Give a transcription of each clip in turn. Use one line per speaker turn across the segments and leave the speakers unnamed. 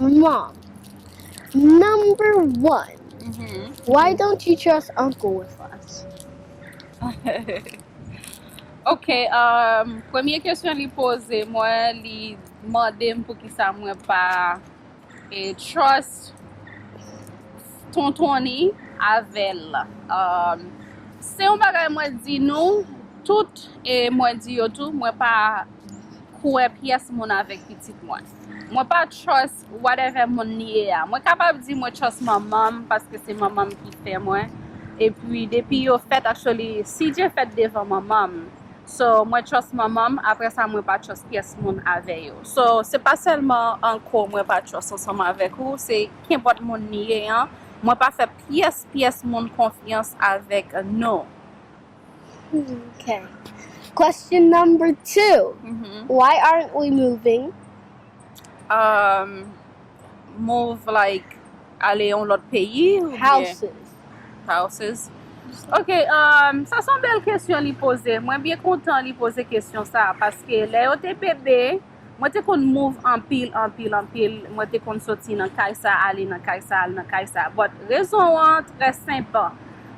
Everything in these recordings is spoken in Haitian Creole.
Mom, number one, why don't you trust uncle with us?
Ok, premye kesyon li poze mwen, li mande m poukisa mwen pa. E trust tontonny avèl um se yon bagay mwen di nou tout e mwen di yo tou mwen pa kwè pyès moun avèk pitit mwen mwen pa trust whatever moun li ye a mwen kapab di mwen trust manmanm paske se manmanm ki fè mwen epi depi yo fèt actually CJ fèt devan manmanm so mwen trust manmanm aprè sa mwen pa trust pyès moun avè yo so se pa sèlman anko mwen pa trust ansanm avèk ou se kenpòt moun li ye an mwen pa fè pyès pyès moun konfyans avèk nou Ok
Question number two Why aren't we moving? Umm
move like. Ale yon lòt peyi ou byen? Houses. Houses. Ok, um, sa son bèl kesyon li poze. Mwen byen kontan li poze kesyon sa, paske lè yo te bebe, mwen te konn move anpil, anpil, anpil. Mwen te konn soti nan kay sa, ale nan kay sa, ale nan kay sa. But, rezon an trè senp.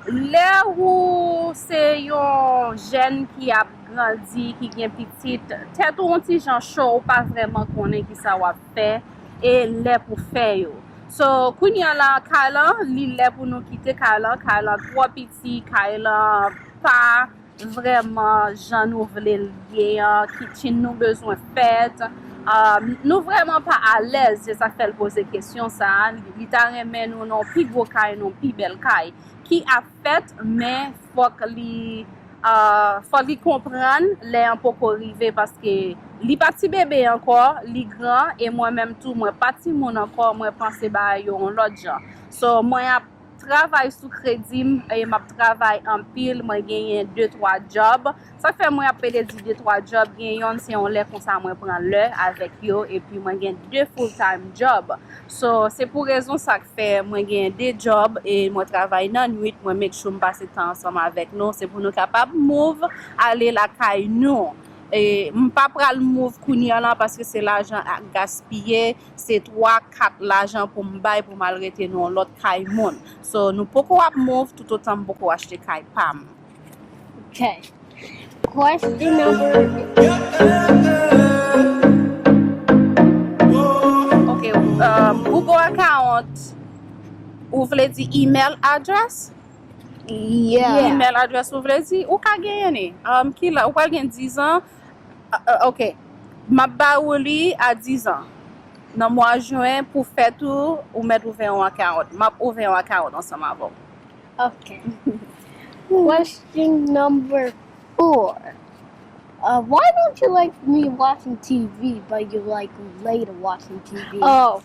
Lè ou se yon jèn ki ap grandi, ki gen pitit, tèt ou yon ti jan cho, ou pa vrèman konnen ki sa w ap. fè e lè pou fè yo so kounya la kay lan li lè pou nou kite kay lan kay lan twò piti kay lan pa vrèman jan nou vle l ye an kitchen nou bezwen fèt nou vrèman pa alèz se sak fè l poze kesyon sa li ta renmen nou nan pi gwo kay nan pi bèl kay ki ap fèt men fòk li fòk li konprann lè an poko rive paske li pa ti bebe ankò li gran e mwen menm tou mwen pa timoun ankò mwen panse bagay yo yon lòt jan so mwen ap travay sou kredim e map travay anpil mwen genyen de twa djòb Sak fè mwen ap pede di de twa job gen yonn se yon lè konsa mwen pran lè avèk yo epi mwen gen de full time job so se pou rezon sak fè mwen gen de job e mwen travay nan nwit mwen make sure m pase tan ansanm avèk nou se pou nou kapab move ale lakay nou e m pa pral move kounye lan paske se lajan ak gaspiye se twa kat lajan pou m bay pou m al rete nan yon lòt kay moun so nou poko ap move toutotan m poko achte kay pam. Okay.
Question number
Okay, uh, Google account ou vle di email address?
Yeah. Yeah. Email address ou
vle di? Ou ka genyen ni. Um, ki la, ou pral gen 10 an. Uh, uh, ok. Map ba ou li a 10 an. Nan mwa jwen pou fèt ou, ou mèt ouvè yon account. Map ouvè yon account ansanm avè ou. Ok.
Question number four. Uh, why don't you like me watching TV but you like Leda watching TV? Oh.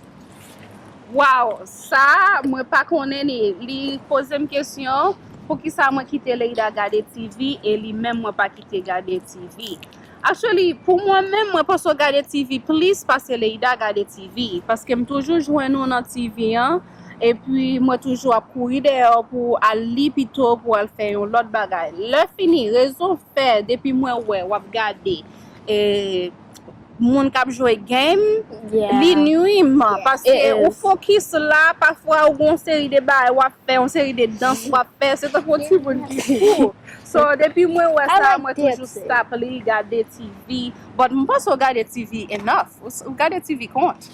Wow, sa mwen pa konnen ni. Li poze m kesyon pou ki sa mwen kite Leda gade TV e li menm mwen pa kite gade TV. Actually, pou mwen menm mwen panse w gade TV plis pase Leda gade TV. Paske m toujou jwenn ou nan TV an. epi mwen toujou ap kouri deyò pou al li pito pou al fè yon lòt bagay lè fini rezon fè depi mwen wè wap gade e moun kap jwe game li nuim paske ou fokis la pafwa ou gon seri de bagay wap fè yon seri de dans wap fè se tankou yon ti moun ki fou so depi mwen wè sa mwen toujou stop li gade TV but mpanse ou gade TV enough ou gade TV kont.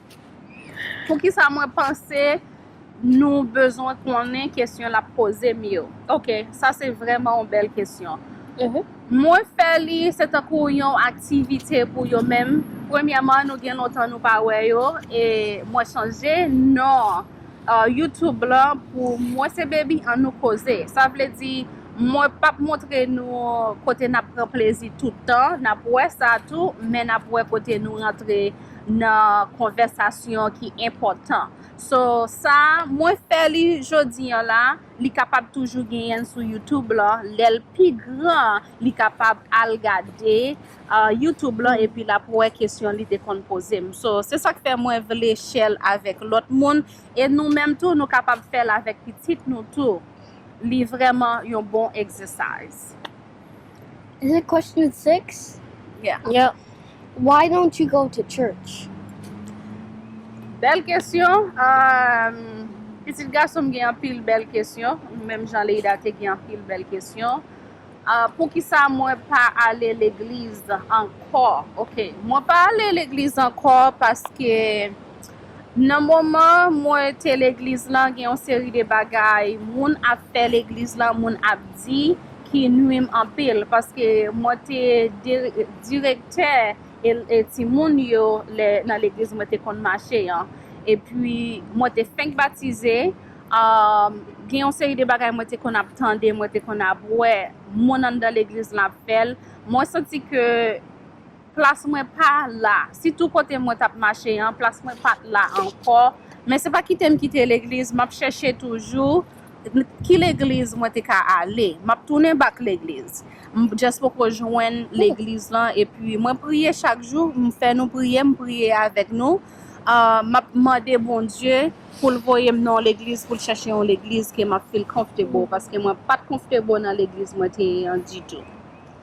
Poukisa mwen panse nou bezwen konnen kesyon lap poze m yo? Ok, sa se vrèman yon bèl kesyon. Mwen fè li se tankou yon aktivite pou yo men premyèman nou gen lontan nou pa wè yo e mwen chanje non YouTube lan pou mwen se Baby an nou koze. Sa vle di mwen pap montre nou kote nap pran plezi tout tan, nap wè sa tou men nap wè kote nou rantre. nan konvèsasyon ki enpòtan. So sa mwen fè li jodi an la, li kapab toujou genyenl sou YouTube lan, lèl pi gran li kapab al gade YouTube lan epi lap wè kesyon li te konn pozem. So se sak fè mwen vle share l avèk lòt moun e nou menm tou nou kapab fèl avèk pitit nou tou. Li vrèman yon bon exercise.
Is it question six? Yeah.
Yep.
Why don't
you go to church?
Bèl kesyon, aahh pitit gason m gen anpil bèl kesyon, menm jan Leïda te gen anpil bèl kesyon. Aahh poukisa mwen pa ale legliz ankò? Ok, mwen pa ale legliz ankò paske. Nan moman mwen te legliz lan gen yon seri de bagay moun ap fè legliz lan moun ap di ki nwi m anpil paske mwen te direktè timoun yo lè nan legliz mwen te konn mache an epi mwen te fenk batize gen yon seri de bagay mwen te konn ap tande mwen te konn ap wè moun anndan legliz lan ap fè l mwen santi ke Plas mwen pa la. Sitou kote mwen t ap mache an, plas mwen pa t la ankò. Men se pa kite m kite legliz, m ap chèche toujou ki legliz mwen te ka ale. M ap tounen bak legliz. M just poko jwenn legliz lan. Epi mwen priye chak jou, m fè nou priye, m priye avèk nou. M ap mande Bondye pou l voye m nan yon legliz, pou l chèche yon legliz ke m ap feel comfortable. Paske mwen pa t comfortable nan legliz mwen te ye an ditou.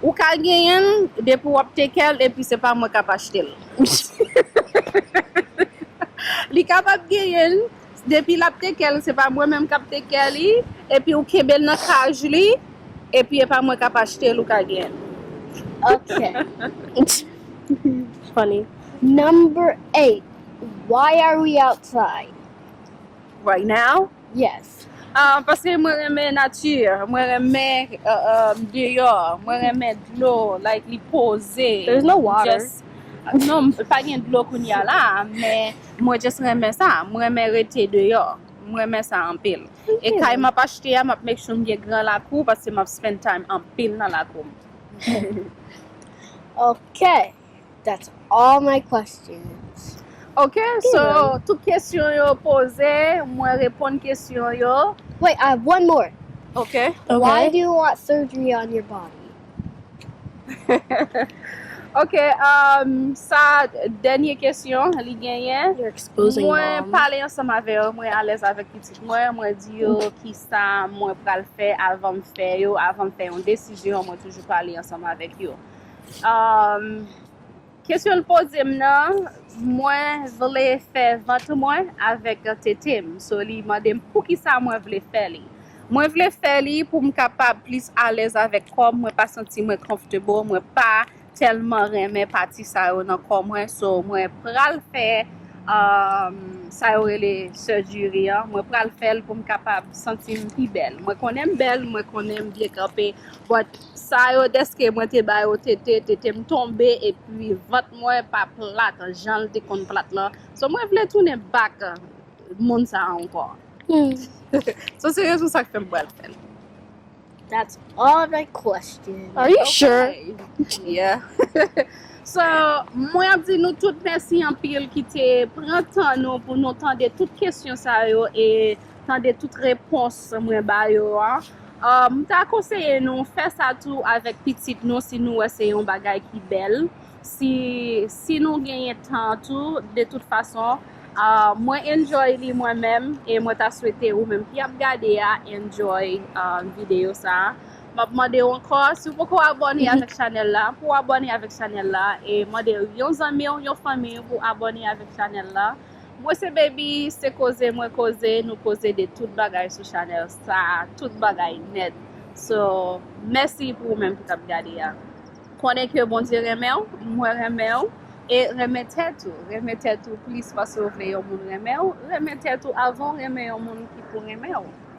Ou ka genyenl depi wap tekel epi se pa mwen kap achtel. Li kapab genyenl depi lap tekel se pa mwen menm kap teker li epi ou kenbel nan kaj li epi epa mwen kap achtel ou ka genyenl. Ok
funny number
8 why are we outside
right now? Yes.
Ah, paske mwen
renmen nature, mwen renmen uh, um, deyò, mwen renmen dlo, like li poze, There's no water. just
non, m-
pa gen dlo kounya la, men mwen just renmen sa, mwen renmen rete deyò, mwen renmen sa anpil. E kay map achte a, map make sure m gen gran lakou paske map spend time anpil nan lakou m.
Ok. That's all my questions. Ok
so tout kesyon yo poze mwen reponn kesyon yo. Wait I have one more.
Ok. Why
do you want
surgery on your body?
Ok um sa dènye kesyon li genyen. You're exposing mom. Mwen
pale ansanm
avè yo
mwen
alèz avèk pitit mwen mwen di yo kisa mwen pral fè avanm fè yo avanm fè yon desizyon mwen toujou pale ansanm avèk yo. Um, kesyon l poze m nan, mwen vle fè vant mwen avèk tete m. So li mande m pou ki sa mwen vle fè li. Mwen vle fè li pou m kapab plis alèz avèk kò m, mwen pa santi mwen comfortable, mwen pa tèlman renmen pati sa yo nan kò mwen, so mwen pral fè um, sa yo rele surgery an, mwen pral fè l pou m kapab santi m pi bèl. Mwen konnen m bèl, mwen konnen m byen kanpe, but. Sa yo deske mwen te ba yo tete, tete m tonbe epi vant mwen pa plat jan l te konn plat lan. So mwen vle tounen back moun sa ankò. So se rezon sa k fè m pral fè l.
That's all the questions. Are you sure?
Yeah.
So mwen ap di nou tout mèsi anpil ki te pran tan nou pou nou tande tout kesyon sa yo e tande tout repons mwen ba yo an. M ta konseye nou fè sa tou avèk pitit nou si nou wè se yon bagay ki bèl. Si si nou genyen tan tou de tout fason mwen enjoy li mwen menm e mwen ta swete ou menm ki ap gade a enjoy videyo sa. M ap mande w ankò si w poko abòne avèk chanèl la pou w abòne avèk chanèl la e mande yon zanmi w yon fanmi w pou abòne avèk chanèl la. Mwen se baby se koze mwen koze nou koze de tout bagay sou chanel sa tout bagay nèt so mèsi pou ou menm ki tap gade a konnen ke bondye renmenw mwen renmenw e renmen tèt ou renmen tèt ou plis paske ou vle yon moun renmenw renmen tèt ou avan ou renmen yon moun ki pou renmenw.